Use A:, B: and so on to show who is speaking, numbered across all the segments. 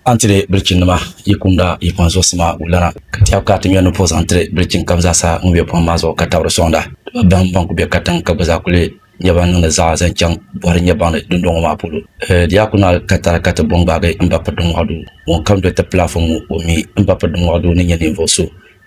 A: A ni ti leei bilichinnima yi kumda yi kpaŋ zuɣusi maa wulana, ka tɛhigu ka a ti ŋmɛri ni puhi zaŋ tiri bilichin kam zaa sa ŋun be buɣim maa zuɣu ka tabiri di sɔŋda. Di ba baŋ bɛn ku be katiŋ ka gba zaa kuli nyɛ baŋ niŋdi zaɣa zaŋ chaŋ bɔhiri n-nyɛ baŋ ni dundɔŋɔ maa polo. Ɛɛ, di yaa ku naai ka tara ka ti bo n-gbaagi m ba piri di mɔɣu duu. Ŋun kam doli ti pili afa ŋu, o mi m ba piri di mɔɣu duu ni nyɛ ninvuɣ so.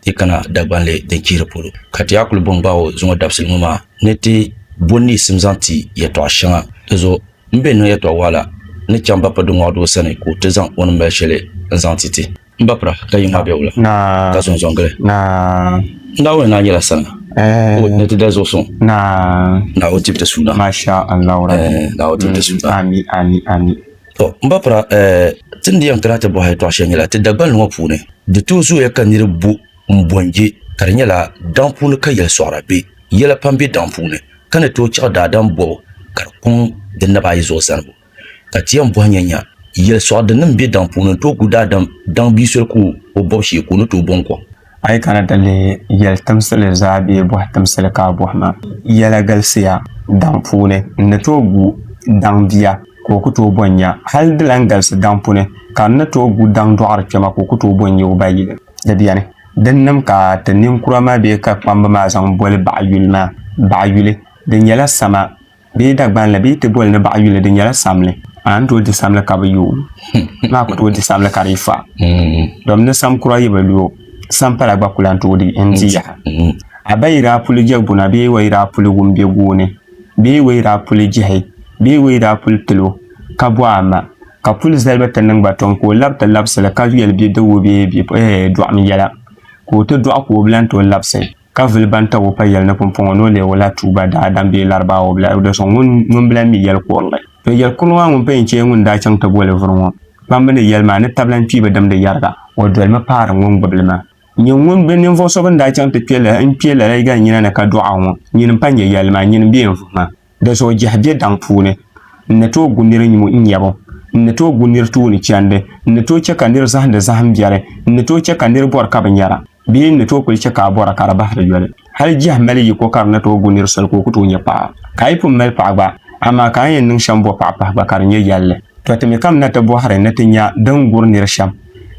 A: ti kana Dagbanli din chihiri polo ka ti yaa kuli bo n-gbaai o zuŋɔ dabisili ŋɔ maa ni ti bo niɣisim zaŋ ti yɛtɔɣ shɛŋa. Dinzuɣu m be niŋ yɛtɔɣ waɣila ni chaŋ Bappa Duŋɔɣu doo sani ka o ti zaŋ o ni mali shɛli n-zaŋ ti ti. M Bappa, ka yi ŋmaai bɛwula, ka zɔnzɔn gili.
B: Naawuni naa nyɛla
A: sani ka o ni ti dali zuɣusuŋ. Naawuni tibiti
B: suuna. To, m ba
A: Piraa, ɛɛ, ti ni yɛn kana ti bɔhi yɛtɔɣ shɛli nyɛla, ti Dagbani ŋɔ puuni, di tooi zooya ka nir bu m-bɔnje ka di nyɛla daŋ puuni ka yɛli sɔɣira be. Yɛla pam be daŋ puuni, ka ni tooi chaɣ daadam bɔbu ka di kɔŋ di naba ayi zuɣu zanibu. Ka ti yɛn bɔhi nyanya, yɛli sɔɣidinim be daŋ puuni n-tooi gu daadam daŋ bia soli ka o bɔb shee ka o ni tooi bɔŋ kɔŋ? A yi kana ti
B: lihi yɛli timsili zaa bee bɔhi timsili ka a bɔhi ma, yɛla galisiya daŋ puuni n ni tooi gu daŋ bia ka o ku tooi bɔn nya. Hal di lan galisi daŋ puuni ka n ni tooi gu daŋ dɔɣiri kpɛma ka o ku tooi bɔn nya o ba yili. Di beni dinnim ka ti ninkura maa bee ka kpamba maa zaŋ boli baɣa yuli maa. Baɣa yuli, di nyɛla sama. bee Dagbanli bee ti boli ni baɣa yuli di nyɛla samli amaa n tooi di samli ka bi yooi hmm. maa ku tooi di samli ka di yi fa hmm. dom ni sam kura yi bi loo sam pala gba kula n tooi di n di yaha hmm. a ba yi daa puli jɛ guna bee wa yi daa puli wum bɛ gooni bee wa yi daa puli jihi bee wa yi daa puli tilo ka bɔ a ma ka puli zaliba ti niŋ ba tɔŋ ka o labi ti labisili ka yɛli bɛ dawoo bee bɛ eh, dɔɣim yɛla ka o ti dɔɣi ka o bilan ti o labisi ka vili ban tab o pa yɛli ni pumpɔŋɔ ni o leeg o lahi tuui ba daadam bee Larabawa bila di zuɣu ŋun bi lahi mi yɛli kurili. To yɛli kurili maa ŋun pa yɛn chɛ ŋun daa chaŋ ti boli vuri ŋɔ kpambu ni yɛli maa ni tabilan kpiiba dimdi yɛriga o dolimi paari ŋun gbubi li maa. Nyini ŋun be ninvuɣ so bɛn daa chaŋ ti kpe lala n-kpe lala yiga nyina ni ka dɔɣi o ŋɔ nyini m-pa nyɛ yɛli maa nyini m-be yɛn vuhi maa. Di zuɣu jɛhi bɛ daŋ puuni, n ni tooi gu nir nyumu n nyabu, n ni tooi gu nir tuuni chɛndi, n ni tooi chɛ ka nir zahindi zahim biɛri, n ni tooi chɛ ka nir bɔri ka bi nyara, bee n ni tooi kul chɛ ka a bɔra ka di bahi di yoli. Hal jɛhi mali yiko ka di ni tooi gu nir soli ka o ku tooi nya paɣa. Ka a yi pun mali paɣa gba, amaa ka a ni yɛn niŋ shɛm bɔ paɣa pahi gba ka di nyɛ yɛlli. Tɔ! Ti mi kam na ti bɔhiri ni ti nya din gur nir shɛm.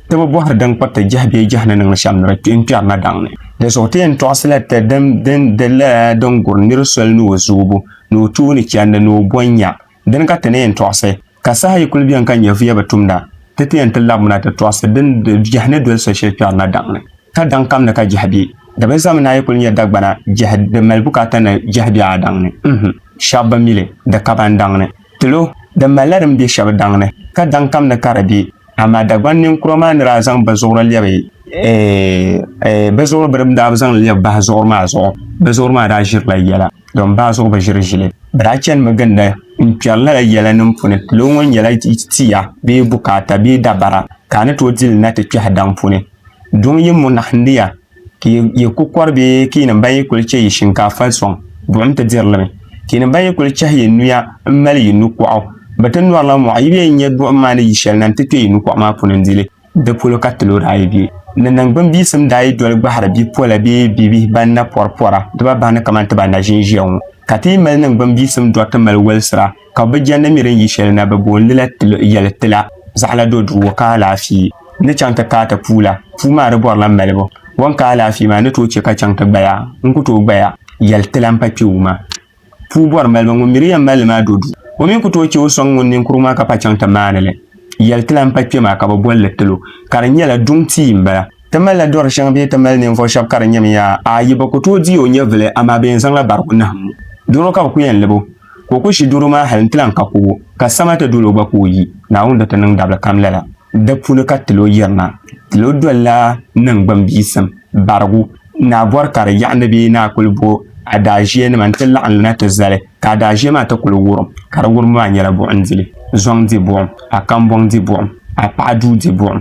B: Ti bi bɔhiri din kpiriti jɛhi bee jɛhi ni niŋ shɛm ni di kpi n-kpɛri na daŋ ni. Di zuɣu ti yɛn tɔɣisila ti din di lala din guri nir soli ni o zoobu, ni o tooni chandi, ni o bɔn nya. Dini ka ti ni yɛn tɔɣisi, ka saha yi kul beni ka nyɛvuya bi tumda, ti ti yɛn ti labimina ti tɔɣisi din di jɛhi ni doli so shɛli kpɛri na daŋ ni. Ka daŋ kam ni ka jɛhi be, di bi zami ni a yi kul nya Dagbana jɛhi di mali bukaata ni jɛhi be a daŋ ni. Uhum! Shɛb bi mi li, di ka ba n daŋ ni. Tilo! Di malila din be shɛb daŋ ni, ka daŋ kam ni ka di be. Amaa Dagban ninkura maa ni daa zaŋ bizuɣuri lɛbi bizuɣuri bini daa bi zaŋ lɛbi bahi zuɣuri maa zuɣu bizuɣuri maa daa ʒirila yɛla dɔn bahi zuɣu bi ʒiri ʒili bi daa chanimi ginda n kpɛri lala yɛla nim puni tilo ŋɔ nyɛla tia bee bukaata bee dabara ka a ni tooi dili na ti kpɛhi daŋ puni duŋ yi munahindi ya ka yi ku kɔri bee ka yi nim ban yi kuli chɛ yi shinkaafa sɔŋ buɣim ti diri li mi, ka yi nim ban yi kuli chɛhi yi nuya m-mali yi nukɔɣu bi ti nɔrila mɔɣu, yi bee yi nya buɣim maa ni yi shɛli na nti kpe yi nukɔɣu maa puuni n-di li. Di polo ka tilo daa yi be ni niŋgbuŋ biyisim daa yi doli gbahiri bi pola bee bi bihi ban na pɔri pɔra di ba bahi ni kamani ti ba naʒin ʒiya ŋɔ, ka ti yi mali niŋgbuŋ biyisim dɔri ti mali walisira. ka bɛ jɛndi mi din yi shɛli na, bɛ booni li la yɛli ti la, zaɣila do duuwo ka alaafee ni chaŋ ti kaai ti puu la, puu maa di bɔrila malibu, o ni ka alaafee maa ni tooi chɛ ka chaŋ ti gbaya, n ku tooi gbaya yɛli ti la m-pa kpe wuu maa. Puu bɔri malibu, ŋun mi di yɛn mali li maa do duu, o mi ku tooi chɛ o sɔŋ ŋun ninkurigu maa ka pa chaŋ ti maani li yɛli ti la m-pa kpe maa, ka bɛ boli li tilo, ka di nyɛla duŋ tia m-bala. Ti malila dɔri shɛŋa bee ti mali ninvuɣu shɛba ka di nyɛmi yaa? Aai, bɛ ku tooi di o nyɛvili, amaa bɛ yɛn zaŋla barigu nahim o. Doro ka bɛ ku yɛn lib o, ka o ku ʒi doro maa hal nti lan ka kubu, ka sama ti dol o gba ka o yi. Naawuni di ti niŋ dabili kam lala. Di puuni ka tilo yirina. Tilo dolila niŋgbuŋ biisim, barigu. Naa bɔri ka di yaɣi ni bee naa kul bo adaaʒiɛnima nti laɣim lina ti zali, ka adaaʒiɛ maa ti kul wurim, ka di wurimi maa nyɛla buɣim dili, zɔŋ di buɣim, a kambɔŋ di buɣim, a paɣa duu di buɣim.